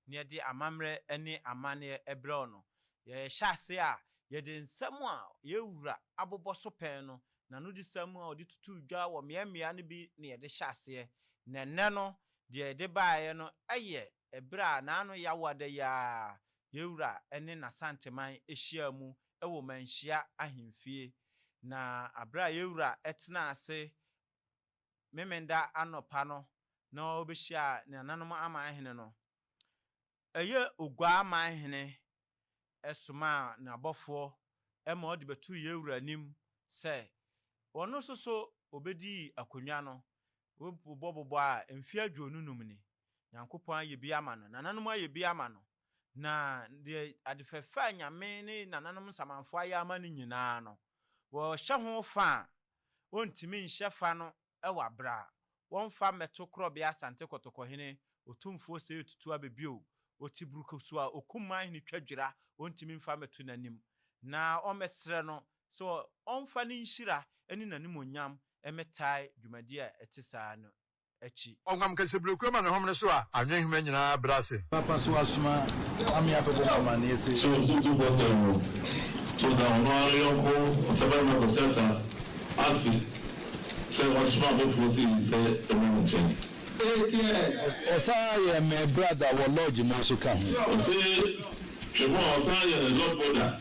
na yɛde amammerɛ ne amanneɛ brɛ wo no, yɛhyɛ ase a, yɛde nsɛm a yɛn Wura abobɔ so pɛn no, n'anodisɛm a ɔde tutuu dwa wɔ mmeammea no bi na yɛde hyɛ aseɛ. Na ɛnnɛ no, deɛ yɛde baeɛ no yɛ berɛ a n'ano yɛ awo ada yi ara a yɛn Wura ne N'Asanteman hyiaa mu wɔ Manhyia Ahemfie, na bere a yɛn wura tenaa ase Memeneda anɔpa no na obehyiaa ne nananom aman hene no, ɛyɛ Oguaa aman hene somaa n'abɔfoɔ ma wɔde bɛtoo yɛn wura anim sɛ ɔno nso so obedii akonnwa no, Wobɔbobɔ a, mfe aduonu num ni. Nyankopɔn ayɛ bi ama no, nananom ayɛ bi ama no, na deɛ ade fɛfɛ a Nyame ne nananom nsamanfoɔ ayɛ ama no nyinaa no, wɔhyɛ ho fa a, wɔntumi nhyɛ fa no wɔ aberɛ a wɔmfa mmɛto korɔbea Asante Kɔtɔkɔhene Otumfoɔ Seyo Tutu Abe bio, ɔte burukusu a ɔkum man hene twa dwira, wɔntumi mfa mmɛto n'anim na wɔmmɛsrɛ no sɛ ɔmfa ne nhyira ne n'animuonyam mmɛtae dwumadi a ɛte saa no akyi. Ɔnam kasabirekurɛ ma ne homene so a anwenhoma nyinaa brɛ ase. Papa so asoma ame abɛbɔ mo amaneɛ se. So ntutu bɔsɛ no so da ɔno ara ne yɔnko ɔsabarima Bɛsata ase sɛ ɔnsoma abɔfoɔ se yi sɛ ɛmmra ne nkyɛn? Eteɛ. Ɔsan ara yɛ mɛ brada wɔ lodge no nso ka ho. Ɔse hwɛ mo a ɔsan ara yɛ ne lodge boda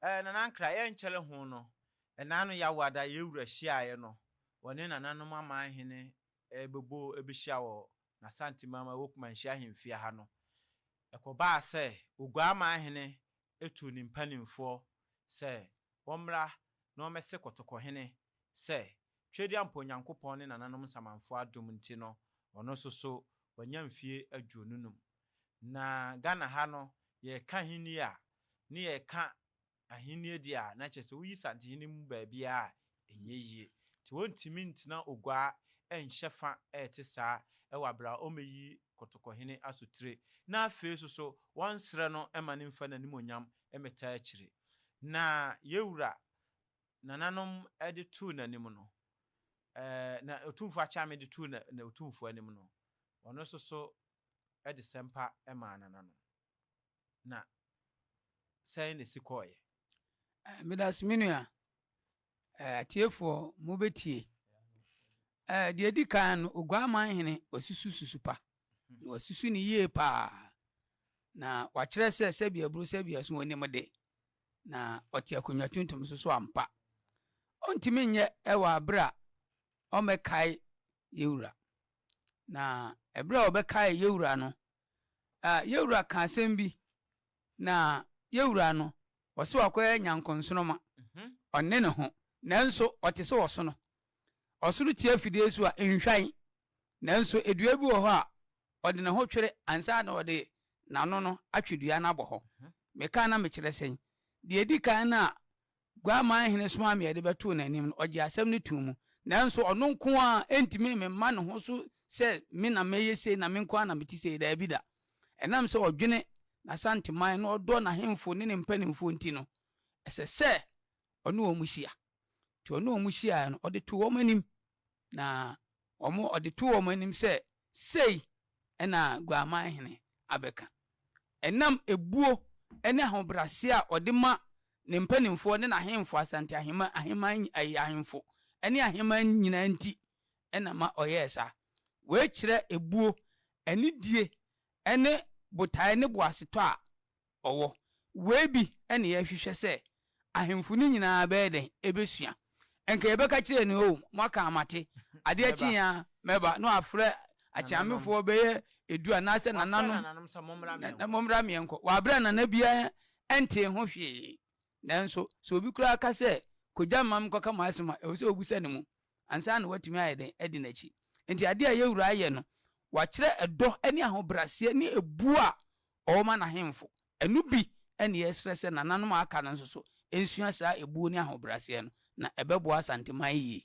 Eh, Nana Nkra, yɛnkyɛre ho no, ɛna ano Yawada yɛn wura hyiaeɛ no, wɔne nananom amanhene bɛbɔ bɛhyia wɔ N'Asanteman mu a ɛwɔ Kumanhyia ahemfie ha no. Ɛkɔbaa sɛ Oguaa amanhene tuu ne mpanimfoɔ sɛ wɔmmra na wɔmmɛse Kɔtɔkɔhene sɛ Tweduampɔ Onyankopɔn ne nananom nsamanfoɔ adom nti no, ɔno nso so wanya mfie aduonu num. Na Ghana ha no yɛka ahenni a ne yɛka ahenni deɛ a na kyerɛ sɛ woyi Santehene mu baabiara a ɛnyɛ yie. Nti wɔntumi ntena Oguaa nhyɛ fa a ɛte saa wɔ aberɛ a wɔreyi Kotokɔhene Asotire na afei nso so wɔnsrɛ no mma no mfa n'animuonyam mmɛtaa akyire. Na yɛn wura nananom de too n'anim no, ɛɛ na Otumfoɔ Akyame de too na Otumfoɔ anim no, ɔno nso so de sɛmpa maa nananom, na sɛn na esi kɔɔeɛ? Medase me nua. Atiefoɔ mo bɛ tie. Deɛ edi kan no Oguaman hene wasusu susu pa. Na wasusu no yie paa. Na wakyerɛ sɛ sɛbi aburo sɛbi aso onim de. Na ɔte akonnwa tuntum so so ampa. Ontumi nyɛ wɔ abere a ɔmɛkae Yewura. Na ɛberɛ a wɔbɛkaee Yewura no, a Yewura kaa asɛm bi, na Yewura no, ɔse wakɔyɛ nyankonsoroma, ɔnne ne ho, nanso ɔte sɛ ɔsono. Ɔsono tia fidie so a, nhwan. Nanso dua bi wɔ hɔ a, ɔde ne ho twere ansa na ɔde n'ano no atwe dua no abɔ hɔ. Meka na mekyerɛ sɛn? Deɛ ɛdi kan no a Guaman hene somaa me a yɛde bɛtoo n'anim no, ɔgyee asɛm no too mu. Nanso ɔno nko ara ntumi mma ne ho so sɛ me na mɛyɛ sei na me nko ara na mete sei. Daabi da. Ɛnam sɛ ɔdwene n'Asanteman na ɔdɔ n'ahemfo ne ne mpanimfoɔ nti no, ɛsɛ sɛ ɔne wɔn hyia. Enti ɔne wɔn hyiaeɛ no, ɔde too wɔn anim, na Wɔn ɔde too wɔn anim sɛ, Sei na Guaman Hene abɛka. Ɛnam ebuo ne ahobrɛaseɛ a ɔde ma ne mpanimfoɔ ne n'ahemfo, Asante Ahemman, Ahemman, ɛɛ, ahemfo ne ahemman nyinaa nti na ma ɔyɛɛ saa. Wei kyerɛ ebuo, anidie ne botaeɛ ne boasetɔ a ɔwɔ. Wei bi na yɛhwehwɛ sɛ ahemfo no nyinaa bɛyɛ dɛn? Ebesua. Anka yɛbɛka kyerɛɛ no, Oh, moaka a mate. Adeɛ kye a, mɛba. Na wafrɛ akyeamefoɔ bɛyɛ edu anaasɛ nananom na mommra meɛnkɔ. Wabrɛ a nana biara ntee ho hwee. Nanso, sɛ obi koraa ka sɛ, Kɔgya mma menkɔka m'asɛm a, ɛwɔ sɛ wobisa ne mu ansa na watumi ayɛ dɛn? Adi n'akyi. Enti adeɛ a yɛn Wura ayɛ no, wakyerɛ ɛdɔ ne ahobraseɛ ne ɛbuo a ɔma n'ahemfo. Ɛno bi na yɛsrɛ sɛ nananom a aka no nso so nsua saa ebuo ne ahobrɛaseɛ no, na ɛbɛboa Asanteman yie.